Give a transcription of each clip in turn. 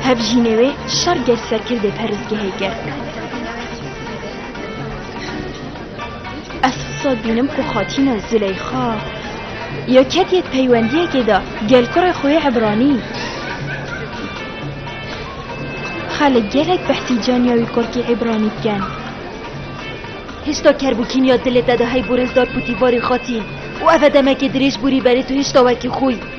Hevjînê wê şer gel serkirdê perrizgehê kir. Ez sal bînim ku xatîna Zileyxa ya ketiye peywendiyekê de gel kurê xwe yê Ebranî. Xelek gelek behsî caniya wî kurkî Ebranî dikin. Hêşta kerbûkîn ya dilê te de hey borêzdar pûtî varî xatîn û ev e demekê dirêj borî berê tu hêşta wekî xwe yî.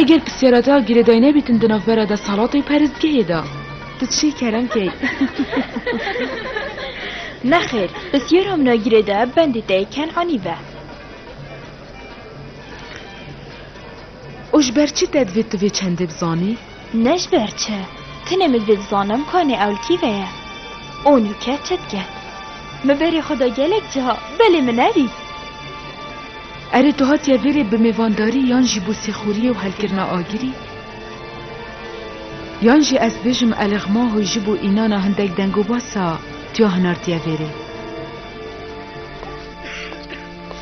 Eger pisyara te a girêdayî nebîtin di navbera desthilatê û perestgehê de, tu çi keremke yî? Nexêr, pisyara min a girêdaye bendê te yê Kenanî ve. Û ji ber çi te divê tu vê çendê bizanî? Ne ji ber çi? Tenê min vê dizanim ka nê ewlkî ve ye. O nûke çi dike? Min berê xwe da gelek ciha, belê min ne dît. Erê tu hatiye vê rê bi mêvandarî yan jî bo sêxuriyê û helkirina agirî? Yan jî ez bêjim Eleghma Hoy ji bo înana hindek dengobasa tuya hinartiye vê rê?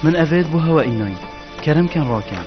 Min ev rê di bo hewa înayî. Kerem ken rakin.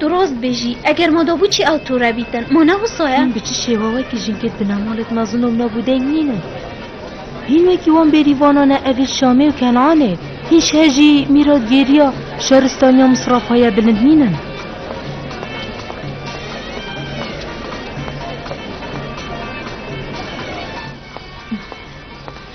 Tu rast bêjî. Eger ma dabû çi ew tu re bîtin. Ma ne wisa ye? Hîn bi çi şêwawekî jinkê di nemalê di mezinom ne bû deng nîn e. Hîn wekî wan bêrîvanan e evê Şamê û Kenanê. Hîn şeh jî mîratgêriya şaristaniya Misrafa ye bilind nîn in.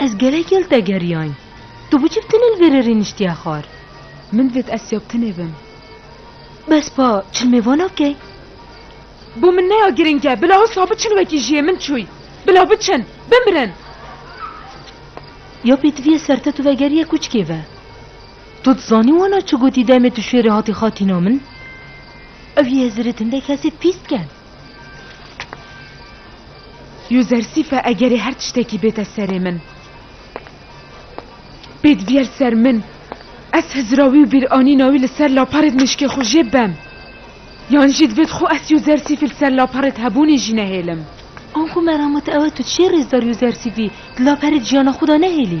Ez gelek yel te geriyayîn. Tu bi çi bi tunel vêrerî niştiye xwar? Min vêt ez siya bi tunê bim. Bes pa çilmê vana bike. Bo min neya girîng e. Bila wisa biçin wekî jiyê min çûy. Bila biçin. Bimirin. Ya pêtiviye ser te tu vegeriye kuçkê ve. To dizanî wana çi gotî demê tu şêrê hatî xatîna min? Ew yê hizirê tinde kesê pîs diken. Yuzersîf e egerê her tiştekî bête serê min. Bêd viyer ser min. Ez hizira wî û bîranîna wî li ser laparê di mişkê xwe jê bem. Yan jî divêt xwe ez Yuzersîfî li ser laparê di hebûnê jî nehêlim. Anxo merama te ew e tu çê rêzdar Yuzersîfî di laperê di jiyana xwe de nehêlî?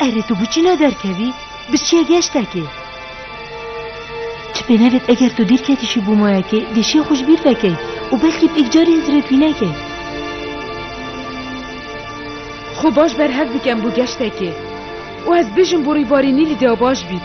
Erê tu biçîna derkevî biçiye geştekê. Ti pê nevêt eger tu dîrketî şî bû mayekê dêşiya xwe ji bîr vekey û belkî pêk carî hizrêt wî nekey. Xwe baş berhev bikem bo geştekê û ez bijim bo rîbarînî lîdeya baş bît.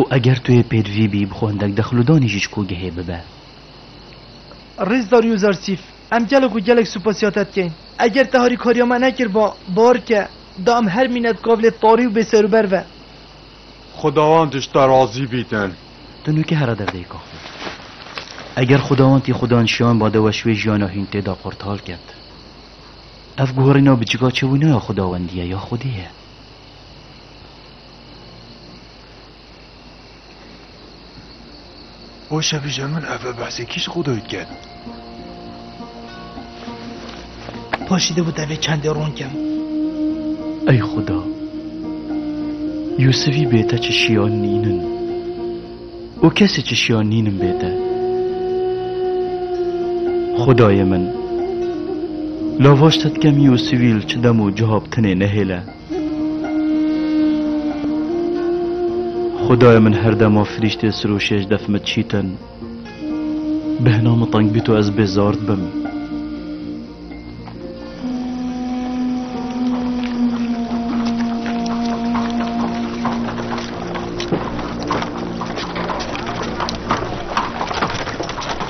Û eger tu yê pêdvî bî bi xwe hindek dexludanî jî ji kogehê bibe. Rêz Dario Zarsîf, Em gelek û gelek supasîya te dikeyn. Eger te harîkariya me nekirba, bar ke da em her mînet gav lê tarî û bêserûber ve. Xwedawend ji te razî bîtin. Tu nûke here derdeyka xwe. Eger xwedawend tî xwe dan şiyan ba de weş wê jiyana hîn tê da qortal ket. Ev guherîna biçika çewîna ya xwedawendî ye ya xwedê ye. O şevî ji min ev behsê kî ji xwe dayî dike? Paşî dibû tevê çendê ron kem. Ey Xuda, Yûsivî bê te çişiya nînin û kesê çişiya nînin bê te. Xudayê min, lavaş te dikem Yûsivî li çi dem û ciha bi tinê nehêle. Xudayê min her dema firîştê sir û şêj def min çîtin, bêhna min teng bît û ez bêzard bim.